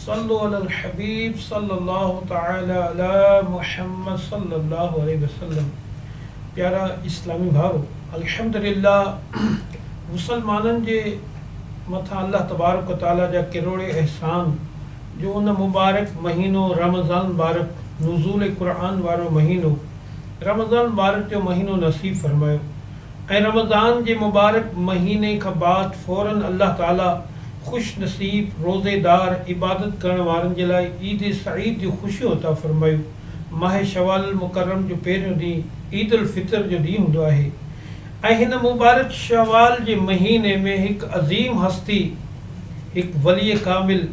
صلو علی الحبيب صلي الله تعالي علي محمد صلي الله عليه وسلم پيارا اسلامي ڀائرو! الحمدلله مسلمانن جي مٿان الله تبارڪ و تعالي جا ڪروڙين احسان جو ان مبارڪ مهينو رمضان المبارڪ نزول قرآن وارو مهينو رمضان المبارڪ جو مهينو نصيب فرمايو ۽ رمضان جي مبارڪ مهيني کان بعد فورن الله تعالي خوش نصيب روزي دار عبادت ڪرڻ وارن جي لاء عيد سعيد جون خوشيون عطا فرمايو ماهه شوال المڪرم جو پهريون ڏينهن عيد الفطر جو ڏينهن هوندو آهي ۽ هن مبارڪ شوال جي مهيني ۾ هڪ عظيم هستي هڪ ولي ڪامل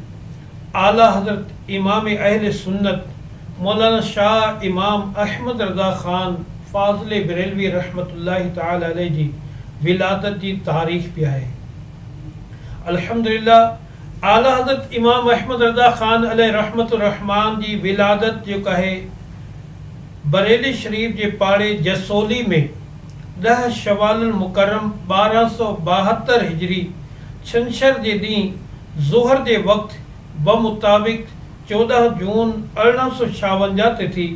اعليٰ حضرت امام اهل سنت مولانا شاهه امام احمد رضا خان فاضل بريلوي رحمة الله تعالٰي عليه جي ولادت جي تاريخ به آهي. الحمد لله اعليٰ حضرت امام احمد رضا خان عليه رحمة الرحمان جي ولادت جيڪو آهي بريلي شريف جي پاڙي جسولي ۾ ڏهه شوال المڪرم ٻارهن سؤ ٻاهتر هجري ڇنڇر جي ڏينهن ظهر جي وقت بمطابق چوڏهن جون ارڙهن سؤ ڇاونجاهه تي ٿي.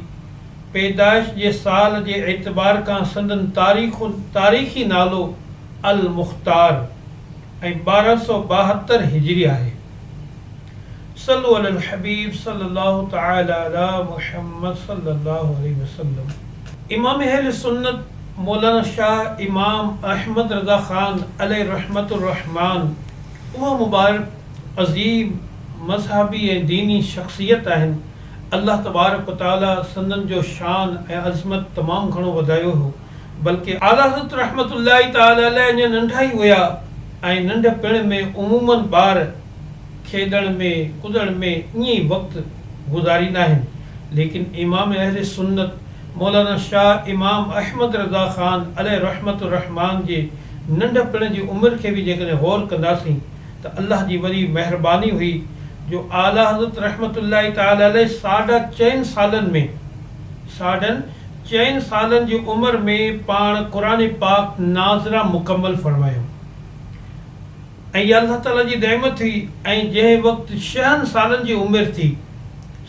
پيدائش جي سال جي اعتبار کان سندن تاريخ تاريخي نالو المختار ۽ ٻارهن سؤ ٻاهتر هجري آهي. صلو علي الحبيب صلي الله تعالي علي محمد صلي الله عليه وسلم. امام اهل سنت مولانا شاهه امام احمد رضا خان عليه رحمة الرحمان، اهو مبارڪ عظيم مذهبي ۽ ديني شخصيت آهن، الله تبارڪ و تعالي سندن جو شان ۽ عظمت تمام گهڻو وڌايو هو، بلڪه. اعليٰ حضرت رحمة الله تعالي عليه اڃا ننڍا ئي هيا ۽ ننڍپڻ ۾ عموماً ٻار کيڏڻ ۾ ڪڏڻ ۾ ائين ئي وقت گذاريندا آهن، ليڪن امام اهل سنت. مولانا شاهه امام احمد رضا خان عليه رحمة الرحمان جي ننڍ پڻ جي عمر کي به جيڪڏهن غور ڪنداسين ته الله جي وڏي مهرباني هئي جو اعليٰ حضرت رحمة الله تعالٰي عليه ساڍا چئن سالن ۾ ساڍن چئن سالن جي عمر ۾ پاڻ قرآن پاڪ ناظره مڪمل فرمايو. ۽ اها الله تعاليٰ جي نعمت هئي ۽ جنهن وقت شهن سالن جي عمر ٿي،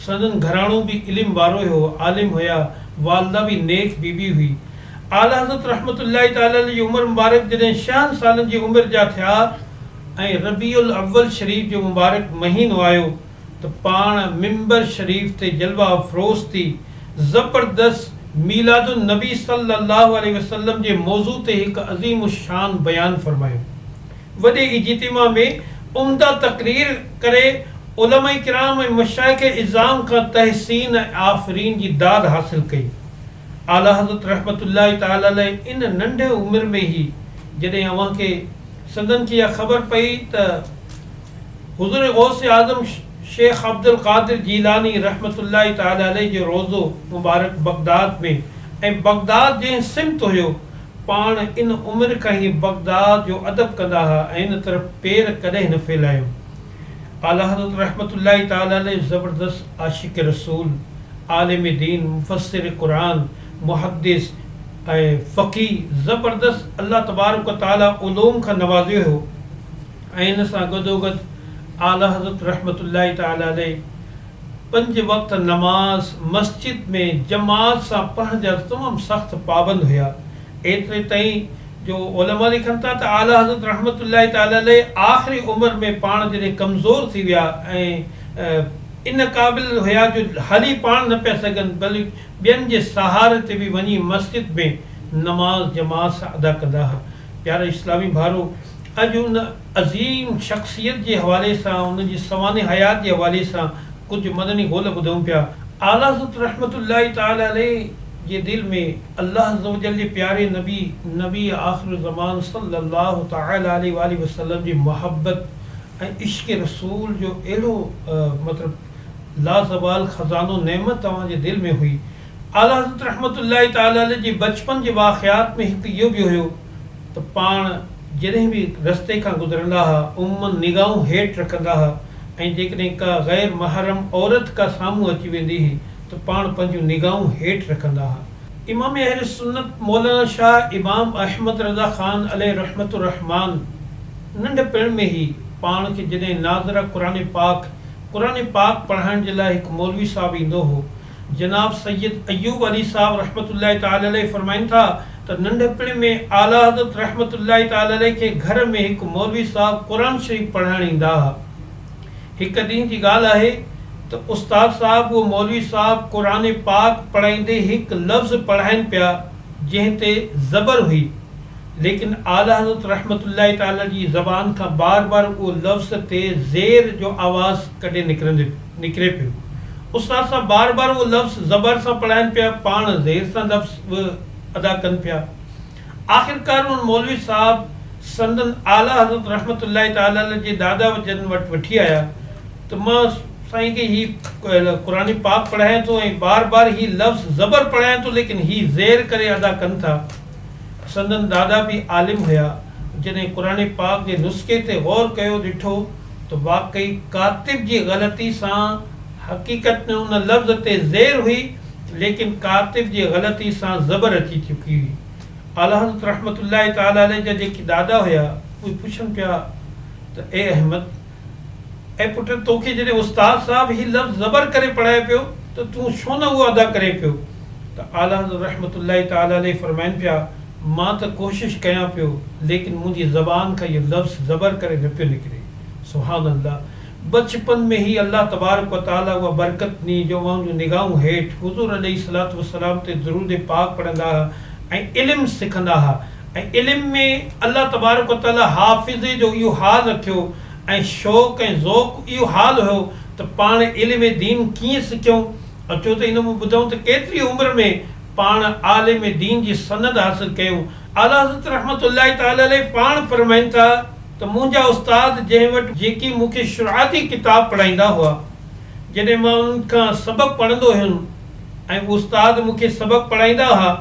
سندن گهراڻو به علم وارو ئي هو، عالم هيا، والده به نيڪ بي بي هئي. اعليٰ حضرت رحمة الله تعاليٰ عليه جي عمر مبارڪ جڏهن شهن سالن جي عمر جا ٿيا ۽ ربيع الاول شريف جو مبارڪ مهينو آيو، ته پاڻ منبر شريف تي جلوه افروز ٿي زبردست ميلاد النبي صلي الله عليه وسلم جي موضوع تي هڪ عظيم الشان بيان فرمايو. وڏي اجتماع ۾ عمده تقرير ڪري علماء ڪرام ۽ مشائخ عظام کان تحسين ۽ آفرين جي داد حاصل ڪئي. اعليٰ حضرت رحمة الله تعالٰي عليه ان ننڍي عمر ۾ ئي جڏهن اوهان کي سندن کي اها خبر پئي ته. حضور غوث اعظم شيخ عبدالقادر جيلاني رحمة الله تعالٰي عليه جو روضو مبارڪ بغداد ۾ ۽ بغداد جنهن سمت هيو، پاڻ ان عمر کان ئي بغداد جو ادب ڪندا ها ۽ ان طرف پير ڪڏهن نه ڦيلايو. اعليٰ حضرت رحمة الله تعالٰي عليه زبردست عاشق رسول، عالم دين، مفسر قرآن، محدث ۽ فقيه زبردست الله تبارڪ و تعالٰي علوم کان نوازيو هيو. ۽ ان سان گڏوگڏ اعليٰ حضرت رحمة الله تعالٰي عليه پنج وقت نماز مسجد ۾ جماعت سان پڙهڻ جا تمام سخت پابند هيا، ايتري تائين جو علماء لکن ٿا ته اعليٰ حضرت رحمة الله تعالٰي عليه آخري عمر ۾ پاڻ جڏهن ڪمزور ٿي ويا ۽ ان قابل هيا جو هلي پاڻ نه پيا سگهن بلڪ ٻين جي سهاري تي به وڃي مسجد ۾ نماز جماعت سان ادا ڪندا ها. پيارا اسلامي ڀائرو! اڄ ان عظيم شخصيت جي حوالي سان ان جي سوانح حيات جي حوالي سان ڪجهه مدني قول ٻڌون پيا. اعليٰ حضرت رحمة الله تعالٰي عليه جي دل ۾ الله عزّوجلّ جي پياري نبي، نبي آخر الزّمان صلّي الله تعالٰي عليه واٰله وسلّم جي محبّت ۽ عشق رسول جو اهڙو مطلب لازوال خزانو نعمت اوهان جي دل ۾ هئي، اعليٰ حضرت رحمة الله تعالٰي عليه جي بچپن جي واقعات ۾ هڪ اهو به هيو ته پاڻ جڏهن به رستي کان گذرندا ها عموماً نگاهون هيٺ رکندا ها ۽ جيڪڏهن ڪا غير محرم عورت ڪا سامهون اچي ويندي هئي ته پاڻ پنهنجون نگاهون هيٺ رکندا ها. امام اهل سنت مولانا شاهه امام احمد رضا خان عليه رحمة الرحمان ننڍ پڻ ۾ ئي پاڻ کي جڏهن ناظره قرآن پاڪ، قرآن پاڪ پڙهائڻ جي لاء هڪ مولوي صاحب ايندو هو، جناب سيد ايوب علي صاحب رحمة الله تعالٰي عليه فرمائن ٿا ته ننڍپڻ ۾ اعليٰ حضرت رحمة الله تعالٰي عليه کي گهر ۾ هڪ مولوي صاحب قرآن شريف پڙهائڻ ايندا ها. هڪ ڏينهن جي ڳالهه آهي ته استاد صاحب اهو مولوي صاحب قرآن پاڪ پڙهائيندي هڪ لفظ پڙهائين پيا جنهن تي زبر هئي. ليڪن اعليٰ حضرت رحمة الله تعالٰي جي زبان کان بار بار اهو لفظ تي زير جو آواز ڪڍي نڪري پيو. استاد صاحب بار بار اهو لفظ زبر سان پڙهائين پيا، پاڻ زير سان لفظ به ادا ڪن پيا. آخرڪار ان مولوي صاحب سندن اعليٰ حضرت رحمة الله تعالٰي جي دادا جن وٽ وٺي آيا ته مان سائين کي هي قرآن پاڪ پڙهايان ٿو ۽ بار بار هي لفظ زبر پڙهايان ٿو ليڪن هي زير ڪري ادا ڪن ٿا. سندن دادا به عالم هيا، جڏهن قرآن پاڪ جي نسخي تي غور ڪيو ڏٺو ته واقعي ڪاتب جي غلطي سان حقيقت ۾ ان لفظ تي زير هئي ليڪن ڪاتب جي غلطي سان زبر اچي چڪي هئي. اعليحضرت رحمة الله تعالٰي عليه جا جيڪي دادا هيا اهي پڇن پيا ته اي احمد! اي پٽ! توکي جڏهن استاد صاحب هي لفظ زبر ڪري پڙهائي پيو ته تون ڇو نه اهو ادا ڪرين پيو؟ ته اعليٰ حضرت رحمة الله تعالٰي عليه فرمائن پيا، مان ته ڪوشش ڪيان پيو ليڪن منهنجي زبان کان اهو لفظ زبر ڪري نه پيو نڪري. سبحان الله! بچپن ۾ ئي الله تبارڪ و تعالٰي اها برڪت ڏني جو اوهان جون نگاهون هيٺ حضور عليه الصلوة والسلام تي درود پاڪ پڙهندا ها ۽ علم سکندا ها. ۽ علم ۾ الله تبارڪ و تعاليٰ حافظي جو اهو حال رکيو ۽ شوق ۽ ذوق اهو حال هيو ته پاڻ علم دين ڪيئن سکيون؟ اچو ته ان مان ٻڌون ته ڪيتري عمر ۾ پاڻ عالم دين جي سند حاصل ڪيون؟ اعليٰ حضرت رحمة الله تعاليٰ عليه پاڻ فرمائن ٿا ته منهنجا استاد جنهن وٽ جيڪي مون کي شرعاتي ڪتاب پڙهائيندا هئا، جڏهن مان انهن کان سبق پڙهندو هيم، ۽ استاد مون کي سبق پڙهائيندا ها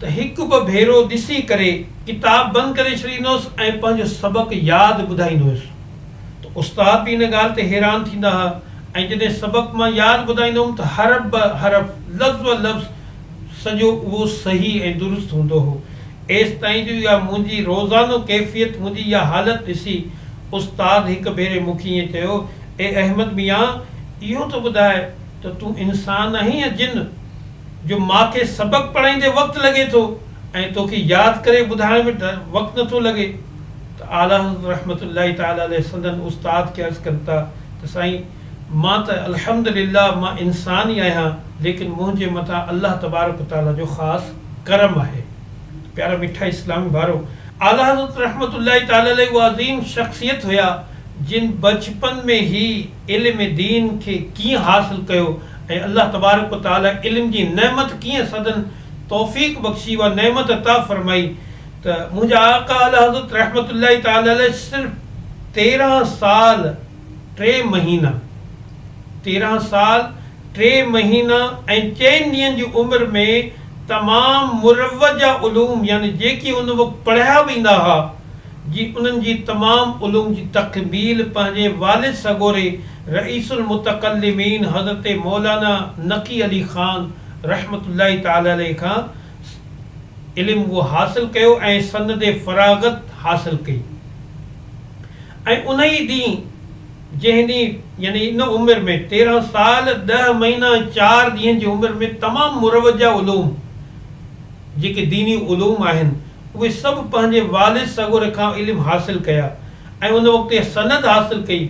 ته هڪ ٻه ڀيرو ڏسي ڪري ڪتاب بند ڪري ڇڏيندو هوس ۽ پنهنجو سبق ياد ٻڌائيندو هوس ته استاد به ان ڳالهه تي حيران ٿيندا ها ۽ جڏهن سبق مان ياد ٻڌائيندو هوم ته حرف به حرف لفظ به لفظ سڄو اهو صحيح ۽ درست هوندو هو ايستائين جو اها منهنجي روزانو ڪيفيت منهنجي اها حالت ڏسي استاد هڪ ڀيري مون کي ائين چيو اي احمد ميان اهو ته ٻڌاء ته تون انسان آهين يا جن، جو مان کي سبق پڙهائيندي وقت لڳي ٿو ۽ توکي ياد ڪري ٻڌائڻ ۾ وقت نٿو لڳي ته اعليٰ حضرت رحمة الله تعالٰي عليه سندن استاد کي عرض ڪن ٿا ته سائين مان ته الحمد لله مان انسان ئي آهيان ليڪن منهنجي مٿان الله تبارڪ و تعالٰي جو خاص ڪرم آهي ته پيارا مٺا اسلامي ڀائرو! اعليٰ حضرت رحمة الله تعالٰي عليه اهي عظيم شخصيت هيا جن بچپن ۾ ئي. علم دين کي ڪيئن حاصل ڪيو ۽ الله تبارڪ و تعاليٰ علم جي نعمت ڪيئن سندن توفيق بخشي اها نعمت عطا فرمائي ته منهنجا آقا اعليٰ حضرت رحمة الله تعاليٰ عليه صرف تيرهن سال ٽي مهينا تيرهن سال ٽي مهينا ۽ چئن ڏينهن جي عمر ۾ تمام مروجه علوم يعني جيڪي ان وقت پڙهيا ويندا ها جي انهن جي تمام علوم جي تقبيل پنهنجي والد سڳوري رئيس المتڪلمين حضرت مولانا نقي علي خان رحمة الله تعالٰي عليه کان علم اهو حاصل ڪيو ۽ سند فراغت حاصل ڪئي ۽ انهيء ڏينهن جنهن ڏينهن يعني ان عمر ۾ تيرهن سال ڏهه مهينا ۽ چار ڏينهن جي عمر ۾ تمام مروجه علوم جيڪي ديني علوم آهن، اهي سڀ پنهنجي والد صغر کان علم حاصل ڪيا ۽ ان وقت اها سند حاصل ڪئي.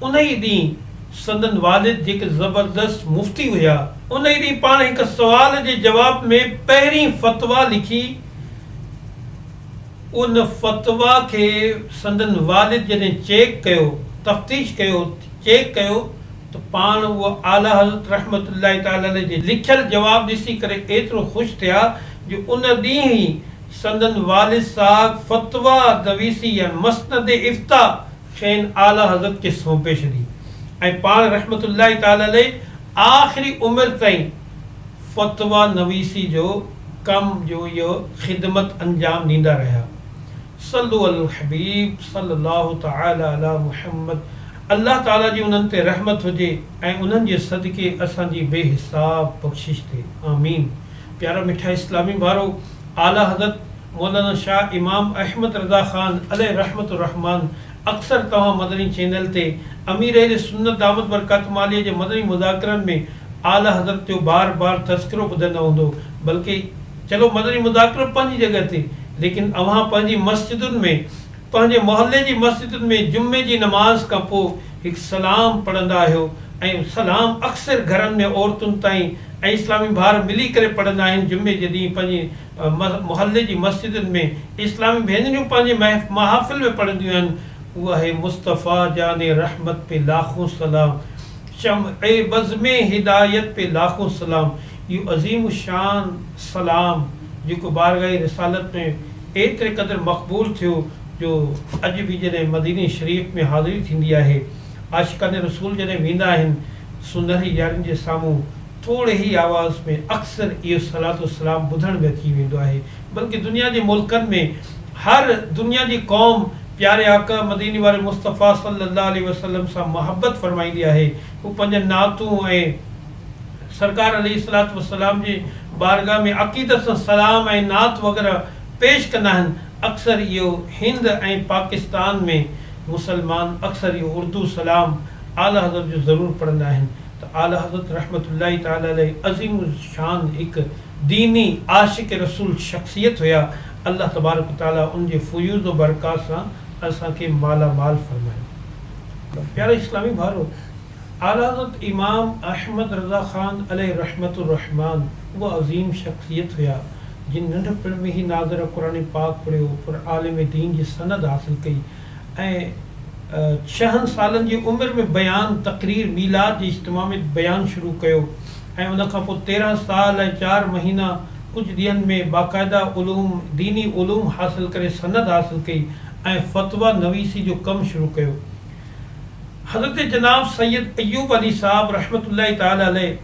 انهيء ڏينهن سندن والد جيڪي زبردست مفتي هيا، انهيء ڏينهن پاڻ هڪ سوال جي جواب ۾ پهرين فتويٰ لکي ان فتويٰ کي سندن والد جڏهن چيڪ ڪيو، تفتيش ڪيو، چيڪ ڪيو، ته پاڻ اهو اعليٰ حضرت رحمة الله تعالٰي عليه جي لکيل جواب ڏسي ڪري ايترو خوش ٿيا جو ان ڏينهن ئي سندن والد صاحب فتويٰ دويسي يعني مسند افتيٰ کين اعليٰ حضرت کي سونپي ڇڏي ۽ پاڻ رحمة الله تعالٰي عليه آخري عمر تائين فتويٰ نويسي جو ڪم جو اهو خدمت انجام ڏيندا رهيا صلو علي الحبيب صلي الله تعالٰي علي محمد الله تعاليٰ جي انهن تي رحمت هجي ۽ انهن جي صدقي اسان جي بي حساب بخشش ٿئي آمين پيارا مٺا اسلامي ڀائرو اعليٰ حضرت مولانا شاھ امام احمد رضا خان عليه رحمة الرحمان اڪثر توهان مدني چينل تي امير اهل سنت دامت برڪاتهم عاليه جي مدني مذاڪرن ۾ اعليٰ حضرت جو بار بار تذڪرو ٻڌندا هوندو بلڪه چلو مدني مذاڪرو پنهنجي جڳهه تي ليڪن اوهان پنهنجي مسجدن ۾ پنهنجي محلي جي مسجدن ۾ جمعي جي نماز کان پوء هڪ سلام پڙهندا آهيو ۽ سلام اڪثر گهرن ۾ عورتن تائين ۽ اسلامي ڀائر ملي ڪري پڙهندا آهن جمعي جي ڏينهن پنهنجي محلي جي مسجدن ۾ اسلامي ڀينريون پنهنجي محافل ۾ پڙهنديون آهن اهو آهي مصطفيٰ جان رحمت پي لاکون سلام. شمع بزم هدايت تي لاکون سلام. اهو عظيم الشان سلام جيڪو بارگاهه رسالت ۾ ايتري قدر مقبول ٿيو جو اڄ به جڏهن مديني شريف ۾ حاضري ٿيندي آهي عاشقان رسول جڏهن ويندا آهن سونهري يارين جي سامهون ٿوري ئي آواز ۾ اڪثر اهو صلات و سلام ٻڌڻ ۾ اچي ويندو آهي بلڪه دنيا جي ملڪن ۾ هر دنيا جي قوم پياري آقا مديني واري مصطفيٰ صلّي اللّٰه عليه وسلّم سان محبّت فرمائيندي آهي، هو پنهنجن نعتون ۽ سرڪار عليه الصلّوة والسلّام جي بارگاھ ۾ عقيدت سان سلام ۽ نعت وغيره پيش ڪندا آهن، اڪثر اهو هند ۽ پاڪستان ۾ مسلمان اڪثر اهو اردو سلام اعليٰ حضرت جو ضرور پڙهندا آهن ته اعليٰ حضرت رحمة الله تعالٰي عليه عظيم الشان هڪ ديني عاشق رسول شخصيت هيا، الله تبارڪ و تعالي ان جي فيوض و برڪات سان اسان کي مالا مال فرمائي. پيارا اسلامي ڀائرو! اعليٰ حضرت امام احمد رضا خان عليه رحمة الرحمٰن اهي عظيم شخصيت هيا، جن ننڍپڻ ۾ ئي ناظره قرآن پاڪ پڙهيو، پر عالم دين جي سند حاصل ڪئي، ۽ ڇهن سالن جي عمر ۾ بيان تقرير ميلاد جي اجتماع ۾ بيان شروع ڪيو ۽ ان کان پوء تيرهن سال ۽ چار مهينا ڪجهه ڏينهن ۾ باقاعده علوم ديني علوم حاصل ڪري سند حاصل ڪئي ۽ فتويٰ نويسي جو ڪم شروع ڪيو حضرت جناب سيد ايوب علي صاحب رحمة الله تعالٰي عليه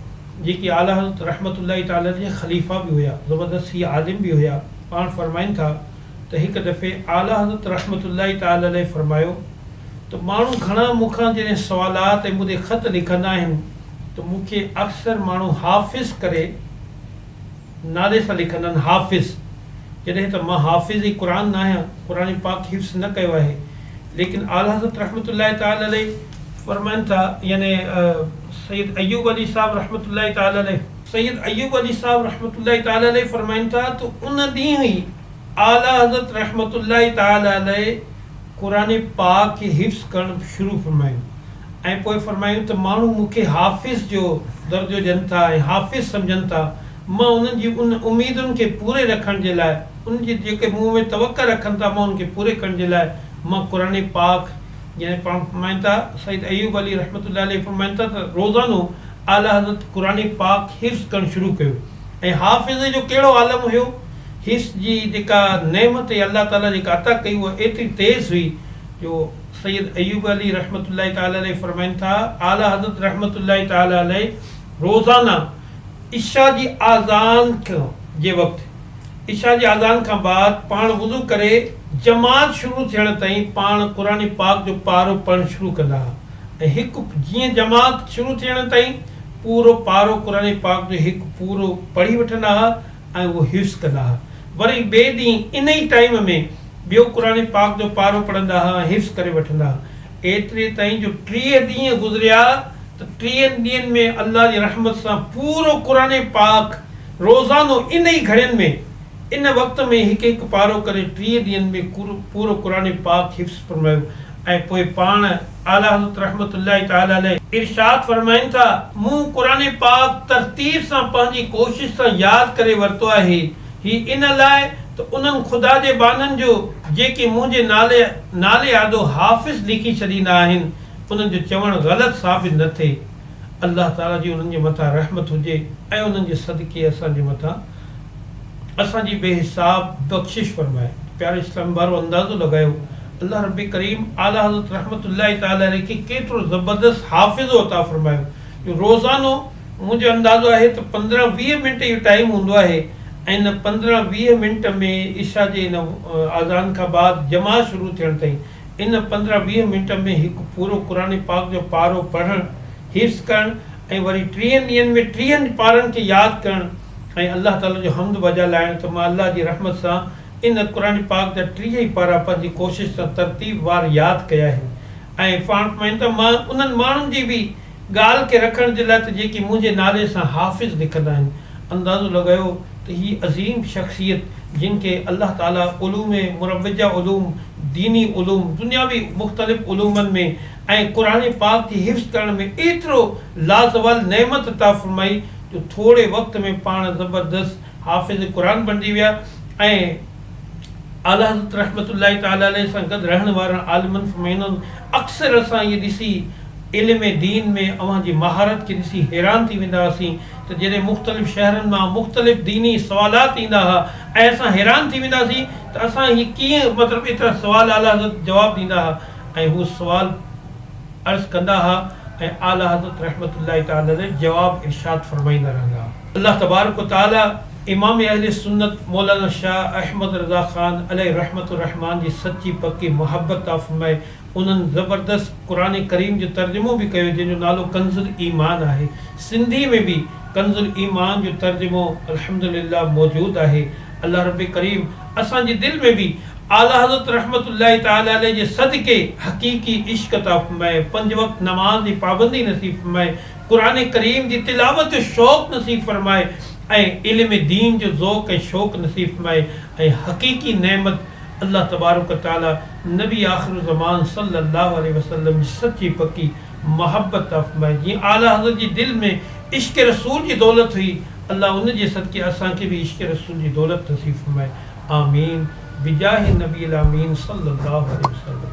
جيڪي اعليٰ حضرت رحمة الله تعالٰي عليه جي خليفه به هيا زبردست هي عالم به هيا پاڻ فرمائن ٿا. ته هڪ دفعي اعليٰ حضرت رحمة الله تعالٰي عليه فرمايو ته ماڻهو گهڻا مون کان جڏهن سوالات ۽ مون ڏي خط لکندا آهن ته مون کي اڪثر ماڻهو حافظ ڪري نالي سان لکندا آهن حافظ جڏهن ته مان حافظ قرآن ناهيان قرآن پاڪ حفظ نه ڪيو آهي ليڪن اعليٰ حضرت رحمة الله تعالٰي عليه فرمائن ٿا يعني سيد ايوب عليه صاحب رحمة الله تعالٰي عليه سيد ايوب علي صاحب رحمة الله تعالٰي عليه فرمائن ٿا ته ان ڏينهن ئي اعليٰ حضرت رحمة الله تعالٰي عليه قرآن پاڪ کي حفظ ڪرڻ شروع فرمايو ۽ پوء فرمايو ته ماڻهو مون کي حافظ جو درجو ڏين ٿا ۽ حافظ سمجهن ٿا مان انهن جي ان اميدن کي پوري رکڻ جي لاء انهن جي جيڪي مون ۾ توقع رکن ٿا مان ان کي پوري ڪرڻ جي لاء مان قرآن پاڪ جڏهن پاڻ فرمائن ٿا، سيد ايوب علي رحمة الله عليه فرمائن ٿا ته روزانو اعليٰ حضرت قرآن پاڪ حفظ ڪرڻ شروع ڪيو ۽ حافظ جو ڪهڙو عالم هيو، حفظ جي جيڪا نعمت يا الله تعاليٰ جيڪا عطا ڪئي اها ايتري تيز هئي جو سيد ايوب علي رحمة الله تعاليٰ عليه فرمائن ٿا، اعليٰ حضرت رحمة الله تعاليٰ عليه روزانه. عشاء جي آذان کان جي وقت، عشاء جي آذان کان بعد پاڻ وضو ڪري جماعت شروع ٿيڻ تائين پاڻ قرآن پاڪ جو پارو پڙهڻ شروع ڪندا ها ۽ هڪ جيئن جماعت شروع ٿيڻ تائين پورو پارو قرآن پاڪ جو هڪ پورو پڙهي وٺندا ها ۽ اهو حفظ ڪندا ها وري ٻئي ڏينهن ان ئي ٽائيم ۾ ٻيو قرآن پاڪ جو پارو پڙهندا ها ۽ حفظ ڪري وٺندا ها ايتري تائين جو ٽيهه ڏينهن گذريا ته ٽيهن ڏينهن ۾ الله جي رحمت سان پورو قرآن پاڪ روزانو ان ئي گهڙين ۾ ان وقت ۾ هڪ هڪ پارو ڪري ٽيهه ڏينهن ۾ پورو قرآن پاڪ حفظ فرمايو ۽ پوء پاڻ اعليٰ حضرت رحمة الله تعالٰي عليه ارشاد فرمائن ٿا، مون قرآن پاڪ ترتيب سان پنهنجي ڪوشش سان ياد ڪري ورتو آهي. هي ان لاء ته انهن خدا جي ٻانهن جو جيڪي منهنجي نالي نالي آڏو حافظ ليکي ڇڏيندا آهن، انهن جو چوڻ غلط ثابت نه ٿئي. الله تعاليٰ جي انهن جي مٿان رحمت هجي ۽ انهن جي صدقي اسان جي مٿان اسان جي بي حساب بخشش فرمائي. پياري اسلامي ڀائرو! اندازو لڳايو الله رب ڪريم اعليٰ حضرت رحمة الله تعاليٰ عليه کي ڪيترو زبردست حافظو عطا فرمايو جو روزانو، منهنجو اندازو آهي ته پندرهن ويهه منٽ اهو ٽائيم هوندو آهي ۽ ان پندرهن ويهه منٽ ۾ عشا جي ان آذان کان بعد جماعت شروع ٿيڻ تائين ان پندرهن ويهه منٽ ۾ هڪ پورو قرآن پاڪ جو پارو پڙهڻ، حفظ ڪرڻ ۽ وري ٽيهن ڏينهن ۾ ٽيهن پارن کي ياد ڪرڻ ۽ الله تعالي جو حمد بجا لائڻ ته مان الله جي رحمت سان ان قرآن پاڪ جا ٽيهه ئي پارا پنهنجي ڪوشش سان ترتيب وار ياد ڪيا آهن ۽ پاڻ سمجهن ته مان انهن ماڻهن جي به ڳالهه کي رکڻ جي لاء ته جيڪي منهنجي نالي سان حافظ لکندا آهن، اندازو لڳايو ته هي عظيم شخصيت جن کي الله تعاليٰ علوم مروجه علوم، ديني علوم، دنياوي مختلف علومن ۾ ۽ قرآن پاڪ جي حفظ ڪرڻ ۾ ايترو لازوال نعمت عطا فرمائي جو ٿوري وقت ۾ پاڻ زبردست حافظ قرآن بڻجي ويا ۽ اعليٰ حضرت رحمة الله تعالٰي عليه سان گڏ رهڻ وارن عالمن فمينن اڪثر اسان اهي ڏسي علم دين ۾ اوهان جي مهارت کي ڏسي حيران ٿي ويندا هئاسين ته جڏهن مختلف شهرن مان مختلف ديني سوالات ايندا ها ۽ اسان حيران ٿي ويندا هئاسين ته اسان هي ڪيئن مطلب ايترا سوال اعليٰ حضرت جواب ڏيندا ها ۽ هو سوال عرض ڪندا ها ۽ اعليٰ حضرت رحمة الله تعالٰي عليه جواب ارشاد فرمائيندا رهندا ها. الله تبارڪ و تعالي امام اهل سنت مولانا شاهه احمد رضا خان عليه رحمة الرحمان جي سچي پڪي محبت عطا فرمائي انهن زبردست قرآن ڪريم جو ترجمو به ڪيو جنهن جو نالو ڪنز الايمان آهي سنڌي ۾ به ڪنز الايمان جو ترجمو الحمد لله موجود آهي الله رب ڪريم اسان جي دل ۾ به اعليٰ حضرت رحمة الله تعالي عليه جي صدقي حقيقي عشق عطا فرمائي پنج وقت نماز جي پابندي نصيب فرمائي قرآن ڪريم جي تلاوت جو شوق نصيب فرمائي ۽ علم دين جو ذوق ۽ شوق نصيب فرمائي ۽ حقيقي نعمت الله تبارڪ و تعالي نبي آخر الزمان صلي الله عليه وسلم جي سچي پڪي محبت عطا فرمائي جيئن اعليٰ حضرت جي دل ۾ عشق رسول جي دولت هئي الله ان جي صدقي اسان کي به عشق رسول جي دولت نصيب فرمائي آمين بجاه النبي الامين صلي الله عليه وسلم.